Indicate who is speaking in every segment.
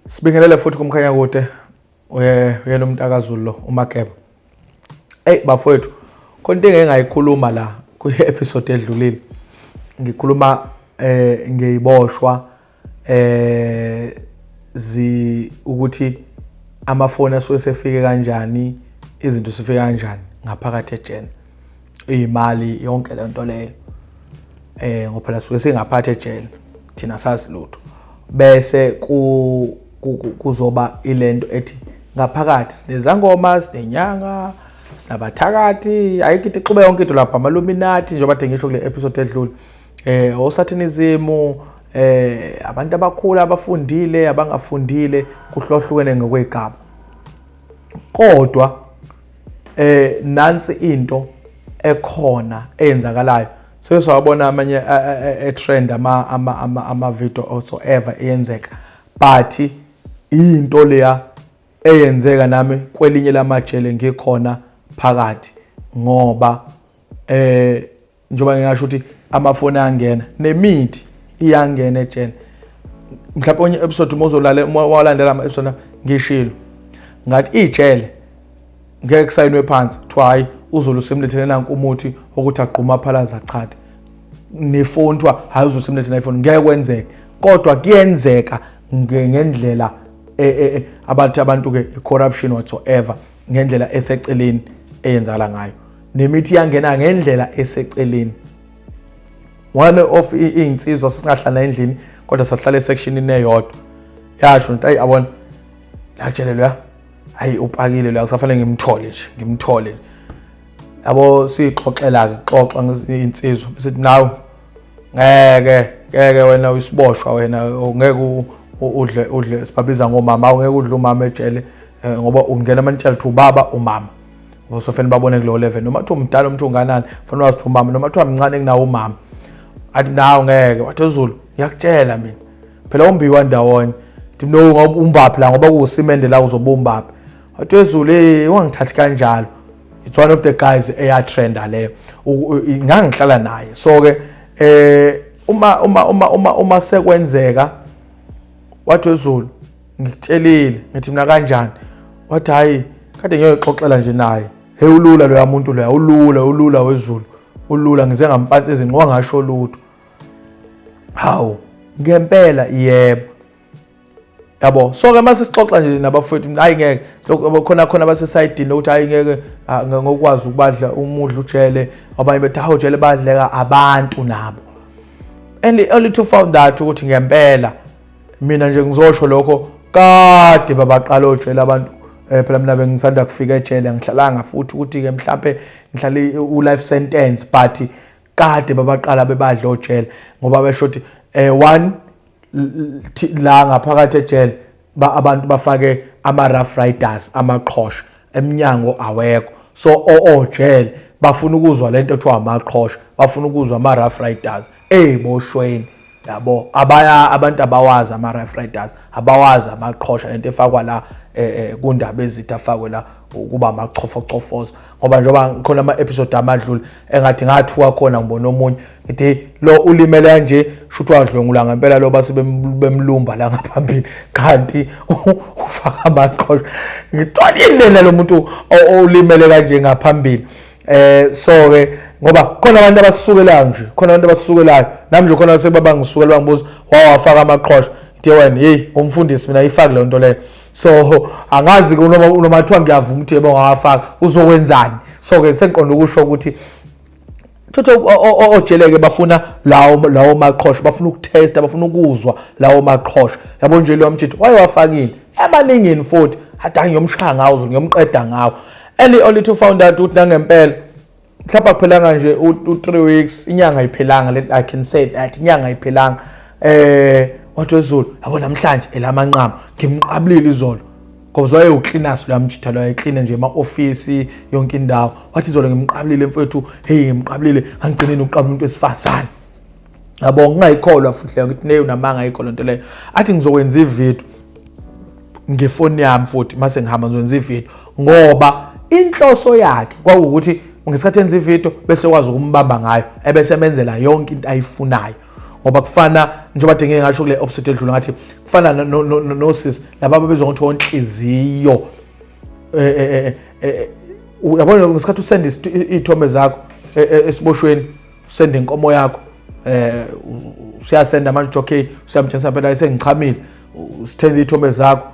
Speaker 1: Sibingelele futhi kumkhanya kude uye uyena umntakazulu lo umakeba. Ey bafowethu khona into engayikhuluma la kwi episode edlulile. Ngikhuluma eh ngeyiboshwa eh zi ukuthi amafoni asuke sefike kanjani izinto sifika kanjani ngaphakathi ejele. iyimali yonke le nto leyo eh ngoba phela suke singaphathe ejele thina sazi lutho bese ku kuzoba ilento ethi ngaphakathi sinezangoma sinenyanga sinabathakathi ayikho into ixube yonke into lapha amaluminati njengoba de ngisho kule episode edlule eh osathinism eh abantu abakhulu abafundile abangafundile kuhlohlukene ngokwegaba kodwa eh nansi into ekhona eyenzakalayo so sawabona amanye e trend ama ama ama ama video also ever eyenzeka but into leya eyenzeka nami kwelinye lamajele ngikhona phakathi ngoba eh njengoba ngingasho ukuthi amafoni ayangena nemithi iyangena ejele mhlawumbe onye episode uma uzolale uma walandela ama episode ngishilo ngathi ijele ngeke kusayinwe phansi kuthiwa hhayi uzulu usemlethele nanku umuthi wokuthi agquma phalaza chathe nefoni kuthiwa hhayi uzulu usemlethele ifoni ngeke kwenzeke kodwa kuyenzeka ngendlela e, e, e, abathi abantu-ke i-corruption whatsoever ngendlela eseceleni eyenzakala ngayo nemithi yangena ngendlela eseceleni one of iy'nsizwa singahlala endlini kodwa sahlala esectionini eyodwa yasho nto ayi abona latshelelwe ya hayi upakile loya kusafanele ngimthole nje ngimthole yabo siyixoxela-ke xoxa insizwa besithi nawe ngeke ngeke wena uyisiboshwa wena ngeke udle udle sibabiza ngomama awungeke udle umama ejele eh, ngoba ungena amanitshela ukuthi ubaba umama usofanele babone kulowo level noma kuthiwa umdala umuntu unganani fanele wazi ukuthi umama noma kuthiwa mncane kunawo umama athi nawo ngeke wathi uzulu ngiyakutshela mina phela umbiwa ndawonye ngithi mina ngoba umbaphi la ngoba kuwusimende la uzoba umbaphi wathi wezulu eyi ungangithathi kanjalo it's one of the guys eya trenda le ngangihlala naye so ke eh uma uma uma uma uma sekwenzeka wathi wezulu ngikutshelile ngithi mina kanjani wathi hayi kade ngiyoxoxela nje naye hey ulula loya muntu loya ulula ulula wezulu ulula ngize ngampatsi izinqwa ngasho lutho hawu ngempela yebo yabo so ke mase sixoxa nje nabafowethu mina hayi ngeke khona khona basesayidini lokuthi hayi ngeke ah, ngokwazi ukubadla umudla ujele abanye bethi hawu jele badleka abantu nabo and only to found that ukuthi ngempela mina nje ngizosho lokho kade babaqala ojele abantu eh phela mina bengisanda kufika ejele ngihlalanga futhi ukuthi ke mhlambe ngihlale u life sentence but kade babaqala bebadla ojele ngoba besho ukuthi eh one la ngaphakathi ejele ba abantu bafake ama rough riders amaqhosha emnyango awekho so oojele oh, oh, bafuna ukuzwa lento ethiwa amaqhosha bafuna ukuzwa ama rough riders hey boshweni yabo abaya abantu abawazi ama rough riders abawazi amaqhosha lento efakwa la eh, eh, kundaba ezitha afakwe la ukuba amachofochofozo ngoba njengoba khona ama episode amadlule engathi ngathuka khona ngibona omunye ngithi lo ulimele kanje shuthiwa adlwengula ngempela lo base bemlumba la ngaphambili kanti ufaka amaqhosha ngitholile lo muntu olimele kanje ngaphambili eh so ke ngoba khona abantu abasukelayo nje khona abantu abasukelayo nami nje khona sebaba ngisukela bangibuza wawafaka amaqhosha ngithi wena hey umfundisi mina ifaki le nto leyo so angazi ke noma noma kuthiwa ngiyavuma ukuthi yebo ngawafaka uzokwenzani so ke sengiqonda ukusho ukuthi Thotho ojeleke bafuna lawo lawo maqhosha bafuna ukutesta bafuna ukuzwa lawo maqhosha yabo nje lo mjitho waye wafakile ebaningini futhi adangi yomshaya ngawo ngiyomqeda ngawo eli olithu found out ukuthi nangempela mhlawumbe akuphelanga nje u-3 weeks inyanga ayiphelanga let i can say that inyanga ayiphelanga eh wathi wezulu yabo namhlanje elamanqama ngimqabulile izolo ngoba zoye uklinaso luyamjitha loyo eklina nje ema-ofisi yonke indawo wathi izolo ngimqabulile mfowethu heyi ngimqabulile ngangigcineni ukuqabula umuntu wesifazane yabo ngingayikholwa futhi leyo ngithi neyo namanga ayikho lento leyo athi ngizokwenza ivideo ngefoni yami futhi mase ngihamba ngizokwenza ivideo ngoba inhloso yakhe kwakuwukuthi ngesikhathi enza ivideo bese kwazi ukumbamba ngayo ebese emenzela yonke into ayifunayo ngoba kufana njengoba dingeke ngasho kule opposite edlula ngathi kufana nosisi laba babezwa ngokuthi onhliziyo eh, eh, eh, yabona ngesikhathi usenda iy'thombe zakho esiboshweni usenda inkomo yakho eh usiyasenda manje uthi okay usiyamthensa phela esengichamile usithenza ithombe zakho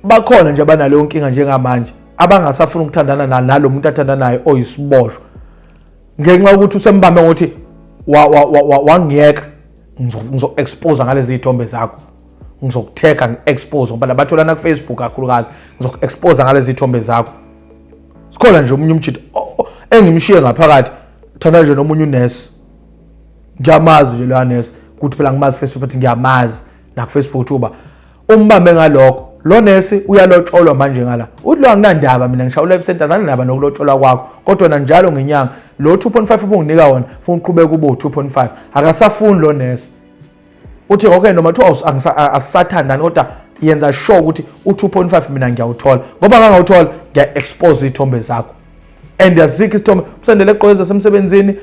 Speaker 1: bakhona nje abanaleyo nkinga njengamanje abangasafuna ukuthandana na nalo muntu athanda naye oyisiboshwa ngenxa yokuthi usembambe ngokuthi wangiyeka ngizokuexpose ngalezi zithombe zakho ngizokutheka ngi-expose ngoba labatholana kufacebook kakhulukazi ngizoku-expose ngalezi zithombe zakho sikhona nje omunye umjita engimshiye ngaphakathi thanda nje nomunye unesi ngiyamazi nje loya nesi ukuthi phela ngimazi face to face ngiyamazi nakufacebook ukuthi uba umbambe ngalokho lo nesi uyalotsholwa manje ngala uthi lo anginandaba mina ngishawula ebusenti azanandaba nokulotsholwa kwakho kodwa na njalo ngenyanga lo 2.5 ubunginika wona funa uqhubeka ubo 2.5 akasafuni lo nesi uthi okay noma kuthiwa asisathandani kodwa yenza sure ukuthi u-2.5 mina ngiyawuthola ngoba ngangawuthola ngiya-expose iy'thombe zakho and yazikho isithombe umsendele egqoke ezasemsebenzini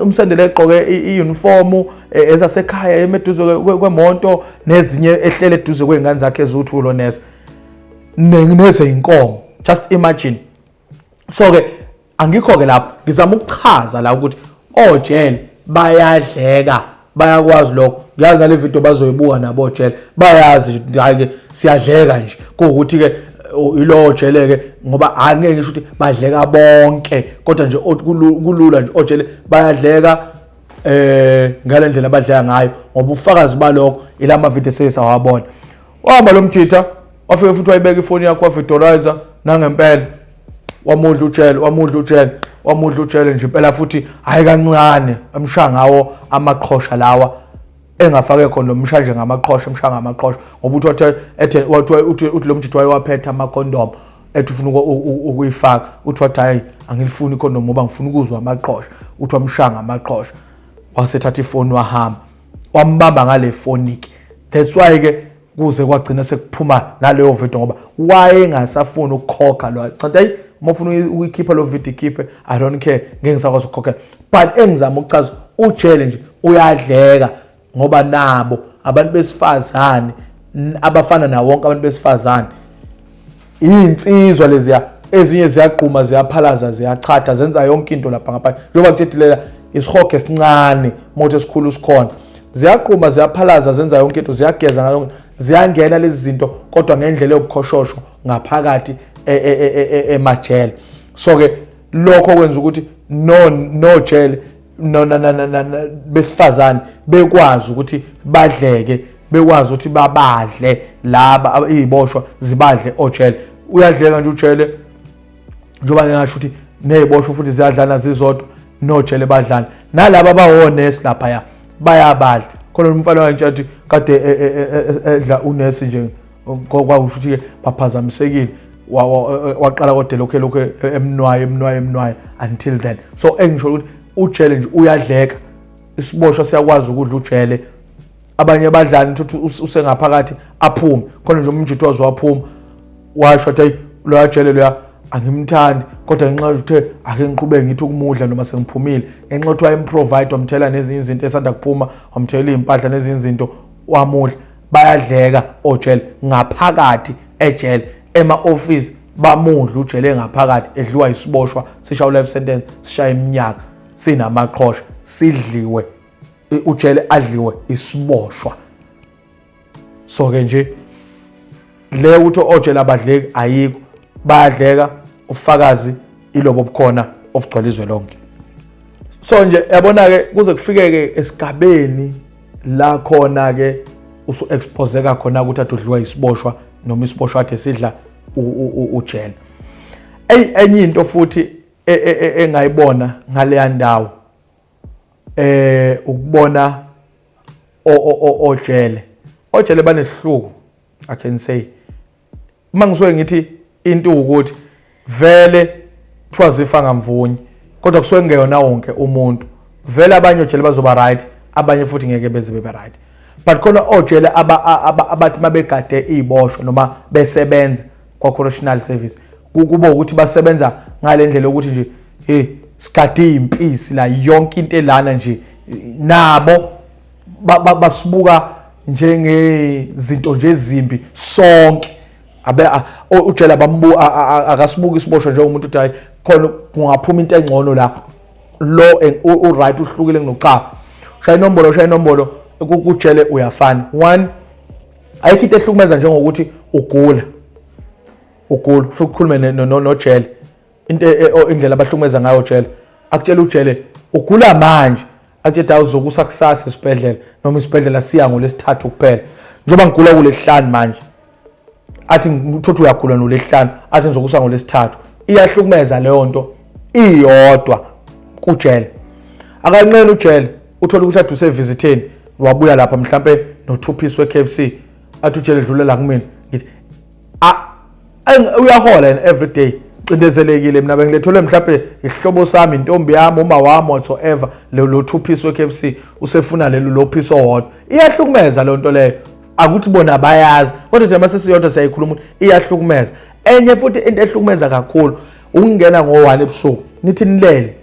Speaker 1: umsendele egqoke i-unifomu e, ezasekhaya emeduze kwemonto nezinye ehlele eduze kwey'ngane zakhe eziwuthulo neze nezeyinkomo just imagine so ke angikho ke lapho ngizama ukuchaza la ukuthi ojele oh, bayadleka bayakwazi lokho ngiyazi nale video bazoyibuka nabo ojele oh, bayazi hayi ke siyadleka nje kuwukuthi ke ilowo jeleke ngoba angeke ngisho ukuthi badleka bonke kodwa nje kulula nje ojele bayadleka eh ngalendlela abadleka ngayo ngoba ufakazi balokho ilama video sesawabona wahamba lo mjitha wafike futhi wayibeka ifoni yakho wavidorizer nangempela wamudla ujele wamudla ujele wamudla ujele nje impela futhi hayi kancane emshaya ngawo amaqhosha lawa engafake khona lomsha nje ngamaqhosha emsha ngamaqhosha ngoba uthi wathe ethe wathi uthi uthi lomjithu wayewaphetha ama condom ethi ufuna ukuyifaka uthi wathi hayi angilifuni i condom ngoba ngifuna ukuzwa amaqhosha uthi wamshaya ngamaqhosha wasethatha ifoni wahamba wambamba ngale foniki that's why ke kuze kwagcina sekuphuma naleyo video ngoba wayengasafuni ukukhokha lo cathi ayi uma ufuna ukuyikhipha lo video ikhiphe i don't care ngeke ngisakwazi ukukhokhela but engizama ukuchaza ujele nje uyadleka ngoba nabo abantu besifazane abafana nawo wonke abantu besifazane Iyinsizwa leziya ezinye ziyagquma ziyaphalaza ziyachatha zenza yonke into lapha ngaphandle njengoba kuthethileka isihogo esincane moto esikhulu sikhona ziyaqhuma ziyaphalaza zenza yonke into ziyageza ngayo ziyangena lezi zinto kodwa ngendlela yokukhoshosho ngaphakathi e, e, e, emajele so ke lokho kwenza ukuthi no no jele no no no no besifazane bekwazi ukuthi badleke bekwazi ukuthi babadle laba iziboshwa zibadle ojele uyadleka nje ujele njengoba ngingasho ukuthi neziboshwa futhi ziyadlana zizodwa nojele badlana nalaba abawonesi lapha ya bayabadla khona umfana wanje athi kade e, e, e, edla unesi nje kwakusho ukuthi-ke baphazamisekile waqala kodwa lokhu lokhu emnwaye emnwaye emnwaye until then so engisho ukuthi ujele nje uyadleka isiboshwa siyakwazi ukudla ujele abanye abadlali ukuthi usengaphakathi aphume khona nje umjidi waze waphuma washo ukuthi hayi loya jele loya angimthandi kodwa ngenxa yokuthe ake ngiqhubeke ngithi ukumudla noma sengiphumile ngenxa yokuthi wayemprovide wamthela nezinye izinto esanda kuphuma wamthela iy'mpahla nezinye izinto wamudla bayadleka ojele ngaphakathi ejele ema office bamudla ujele ngaphakathi edliwa isiboshwa sisha life sentence sisha iminyaka sinamaqhosha sidliwe ujele adliwe isiboshwa so ke nje le ukuthi otshela abadleki ayikho bayadleka ufakazi ilobo bukhona obugcwele izwe lonke so nje yabona ke kuze kufikeke esigabeni la khona ke usu expose ka khona ukuthi adudliwa isiboshwa noma isiboshwa athe sidla ujele ey enye into futhi e, e, e, engayibona ngaleya ndawo eh ukubona ojele ojele banesihluku I can say uma ngisuke ngithi into ukuthi vele kuthiwa zifa ngamvunye kodwa kusuke kungeyona wonke umuntu vele abanye ojele bazoba right abanye futhi ngeke beze bebe right but khona ojele abathi mabegade iziboshwa noma besebenza kwa correctional service kuba ukuthi basebenza ngalendlela ukuthi nje hey sigade impisi la yonke into elana nje nabo basibuka njengezinto nje ezimbi sonke abe ujela bambu akasibuki isiboshwa njengomuntu uthi hayi khona kungaphuma into engcono la lo u right uhlukile kunochaba shaya inombolo shaya inombolo kujele uyafana one ayikho into ehlukumeza njengokuthi ugula ugula futhi ukhulume nojele into e, e, oh, indlela abahlukumeza ngayo ujele akutshela ujele ugula manje akutshela dawu zokusa kusasa esibhedlela noma isibhedlela siya ngolesithathu kuphela njengoba ngigula kulesihlanu manje athi ngithothi uyagula nolesihlanu athi ngizokusa ngolesithathu iyahlukumeza leyo nto iyodwa kujele akanqeni ujele uthola ukuthi ade usevizitheni wabuya lapha mhlampe nothuphisi we-kfc athi ujele dlulela kumina ngithi uyahola yena every day cindezelekile mina bengilethelwe mhlawumbe isihlobo sami intombi yami uma wami whatsoever lo two piece we-KFC usefuna lelo lo piece owodwa iyahlukumeza loo nto leyo akuthi bona bayazi kodwa nje masesiyodwa siyayikhuluma ukuthi iyahlukumeza enye futhi into ehlukumeza kakhulu ukungena ngo-one ebusuku nithi nilele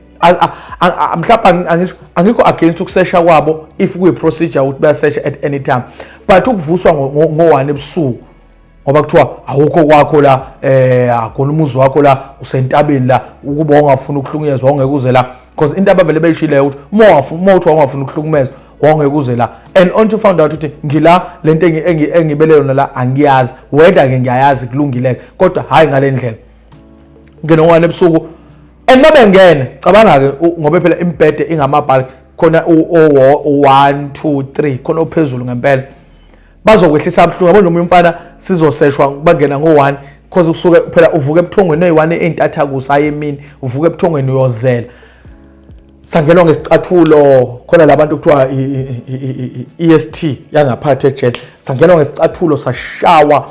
Speaker 1: mhlawumbe angikho against ukusesha kwabo if kuyi-procedure ukuthi bayasesha at any time but ukuvuswa ngo-one ebusuku ngoba kuthiwa awukho kwakho la eh akona umuzi wakho la usentabeni la ukuba ungafuna ukuhlukunyezwa ongeke uze la because into abavele beyishileyo ukuthi uma ungafuna uma uthi ungafuna ukuhlukumezwa wongeke uze la and on to found out ukuthi ngila lento engibele yona la angiyazi whether ke ngiyayazi kulungile kodwa hayi ngalendlela ngene ngwane ebusuku and mabe ngene cabanga ke ngoba phela imbhede ingamabhali khona u 1 2 3 khona ophezulu ngempela bazokwehlisa abuhlungu yabo noma umfana sizoseshwa bangena ngo-one because kusuke phela uvuka ebuthongweni eyi-one ey'ntatha kusa ayi emini uvuka ebuthongweni uyozela sangenwa ngesicathulo khona labantu kuthiwa i-est e yangaphathi ejele sangenwa ngesicathulo sashawa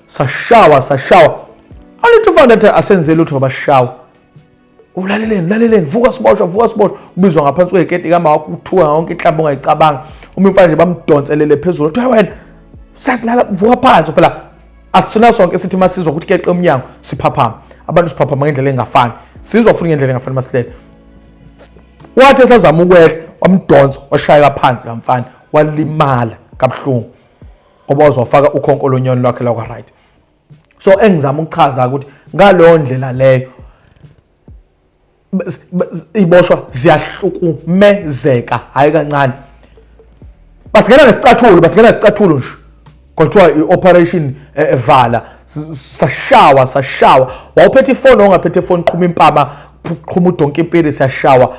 Speaker 1: sashawa sashawa angithi ufanele asenze lutho bashawa ulaleleni ulaleleni vuka siboshwa vuka siboshwa ubizwa ngaphansi kweketi kama wakho uthuka yonke inhlamba ongayicabanga uma imfana nje bamdonselele phezulu kuthiwa wena sakulala vuka phansi phela asina sonke sithi masizwa ukuthi keqe umnyango siphaphama abantu siphaphama ngendlela engafani sizwa futhi ngendlela engafani masilele wathi esazama ukwehla wamdonsa washayeka phansi la mfana walimala kabuhlungu ngoba uzofaka ukhonko lonyoni lwakhe lakwa right so engizama ukuchaza ukuthi ngaleyo ndlela leyo iboshwa ziyahlukumezeka hayi kancane basingena nesicathulo basingena nesicathulo nje kuthiwa i-operation eh, eh, vala sashawa sashawa wawuphethe ifoni ongaphethe ifoni qhuma impama qhuma udonki impiri siyashawa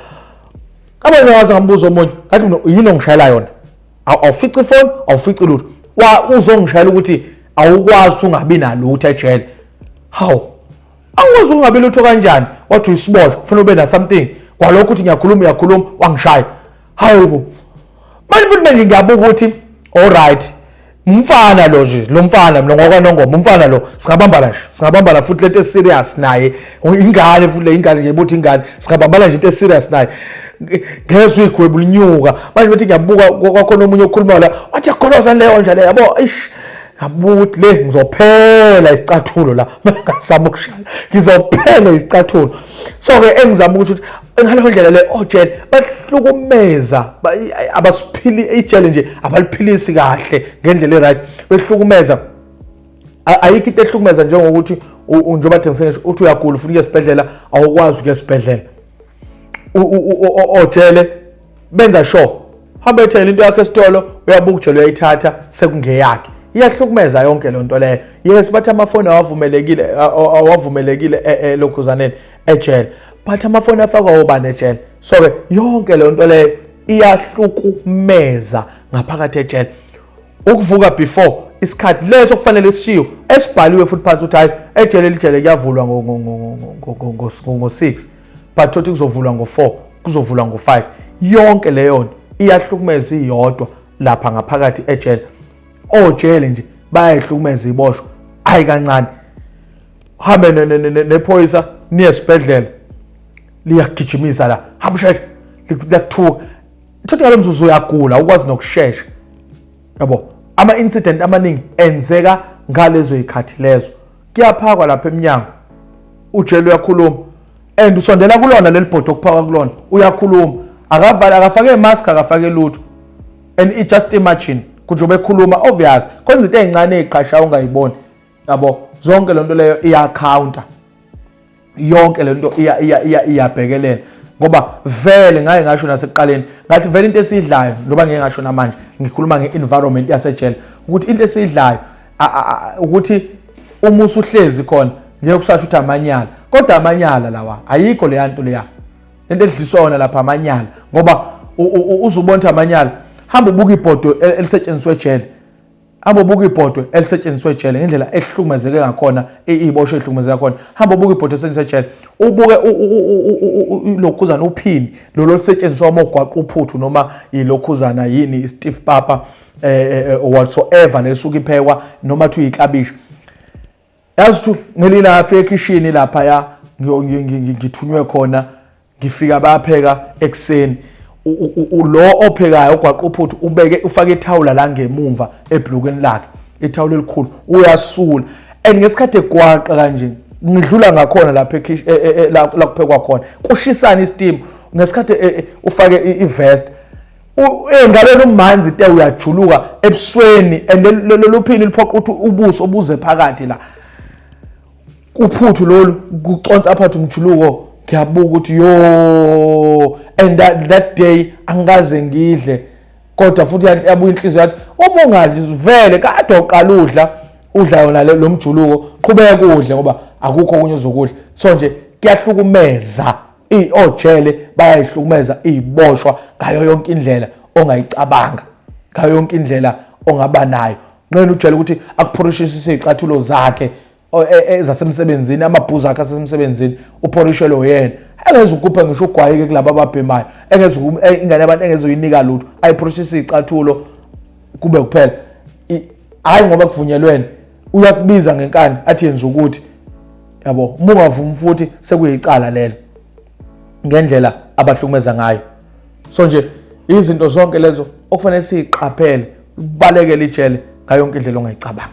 Speaker 1: abanye waze ngambuza omunye ngathi mina yini ongishayela yona awufici ifoni awufici lutho uzongishayela ukuthi awukwazi ukuthi ungabi nalutho ejele hawu angikwazi ukungabi lutho kanjani wathi uyisiboshwa kufanele ube nasomething kwalokho ukuthi ngiyakhuluma uyakhuluma wangishaya hawu bo manje futhi manje ngiyabuka ukuthi alright umfana lo nje lo mfana mina ngokwanongoma umfana lo singabambana nje singabambana futhi lento eserious naye Oh, ingane futhi le ingane nje ibuthi ingane singabambana nje into eserious naye ngezwe igwebu linyuka manje bethi ngiyabuka kwakhona omunye okhuluma la wathi yakholozani leyo nje le yabo ish ngabuthi le ngizophela isicathulo la ngasama ukushaya ngizophela isicathulo so ke engizama ukuthi ngaleyo ndlela le ojele oh, bahlukumeza abasiphili ijele nje abaliphilisi kahle ngendlela e-right behlukumeza ayikho into ehlukumeza njengokuthi njengoba thengise ngisho uthi uyagula ufuna ukuya esibhedlela awukwazi ukuya esibhedlela ojele benza sure hamba ethela into yakho esitolo uyabuka ujele uyayithatha sekungeyakhe iyahlukumeza yonke loo nto leyo yes bathi amafoni awavumelekile awavumelekile e, e, lokhuzaneni ejele but amafoni afakwa obani ejele so-ke yonke leyo nto leyo iyahlukumeza ngaphakathi ejele ukuvuka before isikhathi leso kufanele sishiwe esibhaliwe futhi phansi ukuthi hayi ejele elijele kuyavulwa ngo-6 but thothi kuzovulwa ngo-4 kuzovulwa ngo-5 yonke leyo nto iyahlukumeza iyodwa lapha ngaphakathi ejele ojele nje bayayihlukumeza iboshwa hayi kancane hambe nephoyisa niye esibhedlela liyagijimisa la hamba sheshe liyakuthuka Uthathe ngalo mzuzu uyagula ukwazi nokushesha. Yabo, ama incident amaningi enzeka ngalezo ikhathi lezo. Kuyaphakwa lapha eminyango. Ujele uyakhuluma. And usondela kulona leli bhodwe okuphaka kulona. Uyakhuluma. Akavale akafake mask akafake lutho. And i just imagine kuthi ubekhuluma obvious kwenza into ezincane eziqasha ungayiboni yabo zonke lento leyo iya counter yonke lento iya iya iya iyabhekelela ngoba vele ngaye ngasho nasekuqaleni ngathi vele into esidlayo ndoba ngeke ngasho namanje ngikhuluma nge-environment yasejele ukuthi into esidlayo ukuthi uma usuhlezi khona ngeke kusasho ukuthi amanyala kodwa amanyala lawa ayikho leya nto leya lento edlisona lapha amanyala ngoba uzubona ukuthi amanyala hamba ubuka ibhodo e, elisetshenziswa ejele hamba ubuka ibhodwe elisetshenziswa ejele ngendlela ehlukumezeke ngakhona ibosho ehlukumezeke ngakhona hamba ubuka ibhodwe elisetshenziswa ejele ubuke lokhuzana uphini lolo lisetshenziswa uma ugwaqa uphuthu noma yilokhuzana yini i-steve papa um whatsoever lesuke iphekwa noma kuthiwa yiklabishi yazi ukuthi ngelinye ilanga afika ekhishini laphaya ngithunywe khona ngifika bayapheka ekuseni lo ophekayo ogwaqa uphuthu ubeke ufake ithawula la ngemumva ebhlukweni lakhe ithawula elikhulu uyasula and ngesikhathi egwaqa kanje ngidlula ngakhona lapha e, e, e, la kuphekwa khona kushisana isteam ngesikhathi ufake ivest engaleni umanzi te uyajuluka ebusweni and lelo phini liphoqa ukuthi ubuso obuze phakathi la uphuthu lolu kuconsa aphathe umjuluko ngiyabuka ukuthi yo and that, that day angikaze ngidle kodwa futhi yabuya inhliziyo yathi uma ungadli vele kade uqala udla udla yona lo mjuluko qhubeka udle ngoba akukho okunye uzokudla so nje kuyahlukumeza ojele bayayihlukumeza iziboshwa ngayo yonke indlela ongayicabanga ngayo yonke indlela ongaba nayo nqena ujele ukuthi akuphorishisise izicathulo zakhe e, e, ezasemsebenzini amabhuzu akhe asesemsebenzini uphorishelwe uyena engeze ukuphe ngisho ugwayike kulabo ababhemayo engeze e, ingane yabantu engeze uyinika lutho ayiphorishisise izicathulo kube kuphela hayi ngoba kuvunyelwene uyakubiza ngenkani athi yenza ukuthi yabo uma ungavumi futhi sekuyicala lelo ngendlela abahlukumeza ngayo so nje izinto zonke lezo okufanele siyiqaphele ubalekele ijele ngayo yonke indlela ongayicabanga